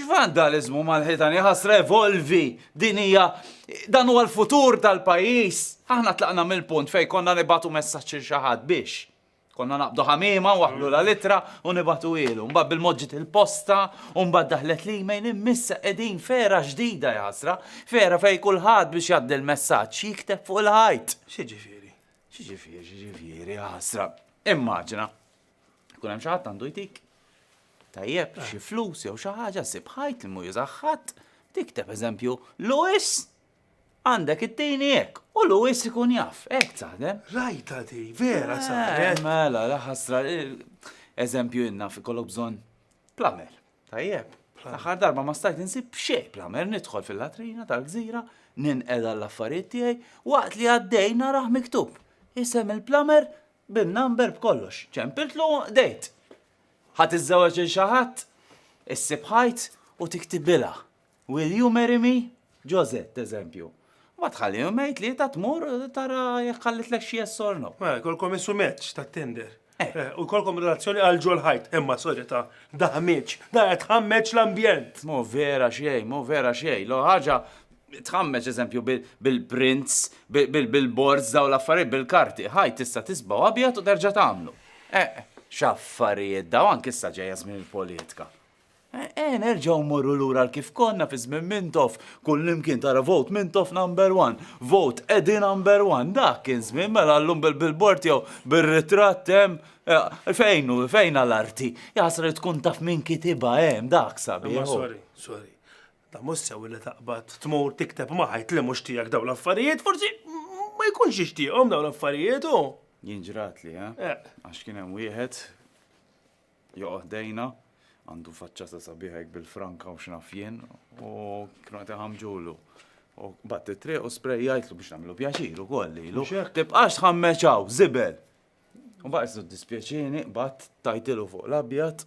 X'vandaliżmu mal-ħitan iħassra evolvi! Din hija dan huwa l-futur tal-pajjiż! Aħna tlaqna mill-punt fejn konna nibagħtu messaġġ lil xi ħadd biex. Konna naqbdu ħamiema, nwaħħlu l-ittra u nibagħtuhielu. Mbagħad bil-mod ġiet il-posta u mbagħad daħlet l-email imma issa qegħdin f'era ġdida iħassra, f'era fejn kulħadd biex jgħaddi l-messaġġ jikteb fuq il-ħajt. X'jiġifieri? X'jiġifieri? X'jiġifieri iħassra? Immaġina. Kun hemm xi ħadd għandu jtik. Tajjeb, eh. xi flus jew xi ħaġa sib ħajt li mu jużaħħat, tikteb eżempju Lewis għandek it-tini hekk u Lewis ikun jaf, hekk taħdem. Rajta di, vera eh, saħdem. Mela, laħasra, eh, eżempju inna fi kollu bżonn plamer. Tajjeb, l-aħħar darba ma stajt insib xejn plamer nidħol fil-latrina tal-gżira, ninqeda l-affarijiet tiegħi waqt li għaddej naraħ miktub. Isem il-plamer bin-number b'kollox. Ċempiltlu u qdejt. Ħa tiżżewweġ lil xi ħadd? Issib ħajt u tiktibilha. Will you marry me? Josette, eżempju. Ma tħalli jumej tlieta tmur tara jekk ħallitlek xi yes or no. Mela, kolkom isu match ta' Tinder. Eh. Eh, u kolkom relazzjoni għal ġol ħajt, imma solita, daħmiċ, da qed ħammeċ l-ambjent. Mo vera xej, mo vera xej, lo ħaġa Tħammeġ eżempju bil-prints, bil-billboards daw l-affarijiet bil-karti, ħaj tista' tisbaw abjad u terġa' tagħmlu. Eh, x'affarijiet daw anke issa ġejja żmien il-politika. Eh, eh nerġgħu morru lura l kif konna fi żmien Mintoff, kullimkien tara vote Mintoff number one, vote Edi number one, dak kien żmien mela llum bil-billboard jew bir-ritratt hemm eh, fejn fejn għal-arti. Jasri tkun taf min kitiba hemm dak sabi. Sorry, sorry. Da mhux sew li taqbad tmur tikteb ma' ħadd li mhux tiegħek dawn l-affarijiet, forsi ma jkunx jixtieqhom dawn l-affarijiet hu. Jien ġratli, eh? Eh. Għax kien hemm wieħed joqgħod dejna, għandu faċċata sabiħa hekk bil-franka u x'naf jien, u kienu qed iħammġulu. U bat it-triq u sprejjajtlu biex nagħmlu pjaċir ukoll lilu. Mhux hekk. Tibqax tħammeċaw, żibel. U baqgħet dispjaċini, bat tajtilu fuq l-abjad